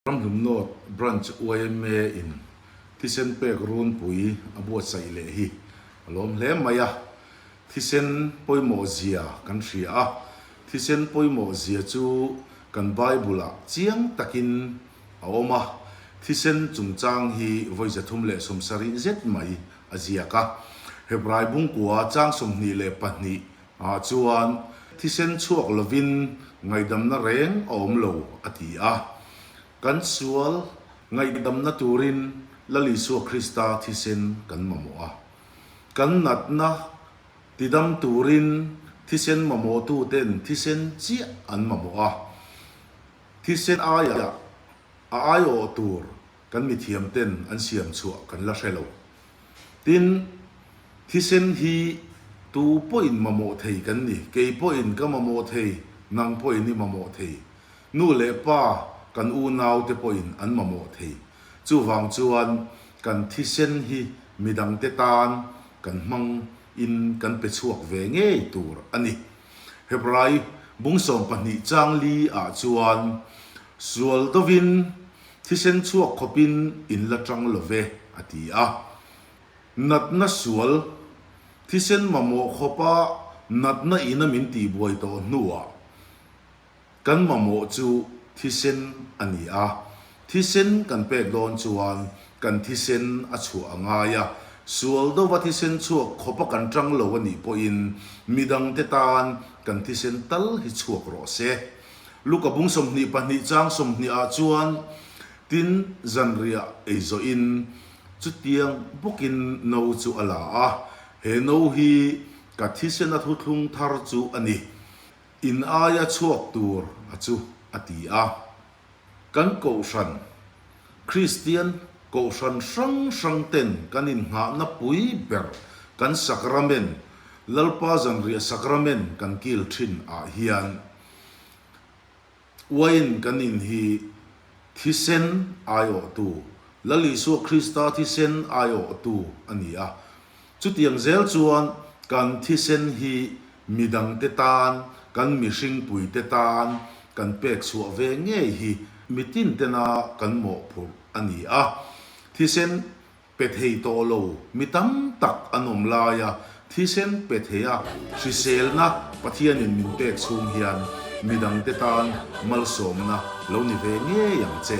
Ramhlun North Branch yma in thisen pek runpui a buatsaih leh hi a lawm hle mai a, thisen pawimawh zia kan hria a, thisen pawimawh zia chu kan Bible-ah chiang takin a awm a, thisen chungchang hi vawiza thum leh sawmsa rih zet mai a ziak a. Hebrai bungkua chang sawmhnih leh pahnih ah chuan thisen chhuak lovin ngaihdamna reng a awm lo a ti a. Kan sual ngaihdamna turin Lal Isua Krista thisen kan mamawh a. Kan natna tidam turin thisen mamawhtuten thisen chiah an mamawh a. Thisen aiah a aiawh tur kan mithiamten an siam chhuah kan la hre lo. Tin, thisen hi tu pawhin mamawh thei kan ni, kei pawhin ka mamawh thei, nang pawhin i mamawh thei, nu leh pa, kan unaute pawhin an mamawh thei. Chuvang chuan kan thisen hi midangte tan kan hmang in kan pe chhuak ve ngei tur a ni. Hebrai bungsawm pahnih chang li ah chuan sual dovin Thisen chhuak khawpin in la tang lo ve, a ti a. Natna sual, thisen mamawh khawpa natna ina min tihbuai tawh hnuah kan mamawh chu thisen a ni a. Thisen kan pet dawn chuan kan thisen a chhuah a ngai a. Sual dova thisen chhuak khawpa kan tang lo a nih pawhin midangte tan kan thisen tal hi chhuak rawh se. Luka bung sawmhnih pahnih chang sawmhnih ah chuan tin zanriah ei zawh in chutiang bawk in no chu a la a, he no hi ka thisen a thuthlung thar chu a ni, in aia chhuak tur a chu a ti a. Kan Kohhran, Kristian Kohhran hrang hrang ten kan inhnghahna pui ber kan Sacrament, Lalpa Zanriah Sacrament kan kil thin ah hian Wine kan in hi thisen aiawhtu, Lal Isua Krista thisen aiawhtu a ni a. Chutiang zel chuan kan thisen hi midangte tan, kan mihring puite tan kan pek chhuah ve ngei hi mitin tena kan mawhphurh a ni a. Thisen pe thei tawh lo mi tam tak an awm lai a, thisen pe theia hriselna Pathianin min pek chhung hian midangte tan malsawmna lo ni ve ngei ang che.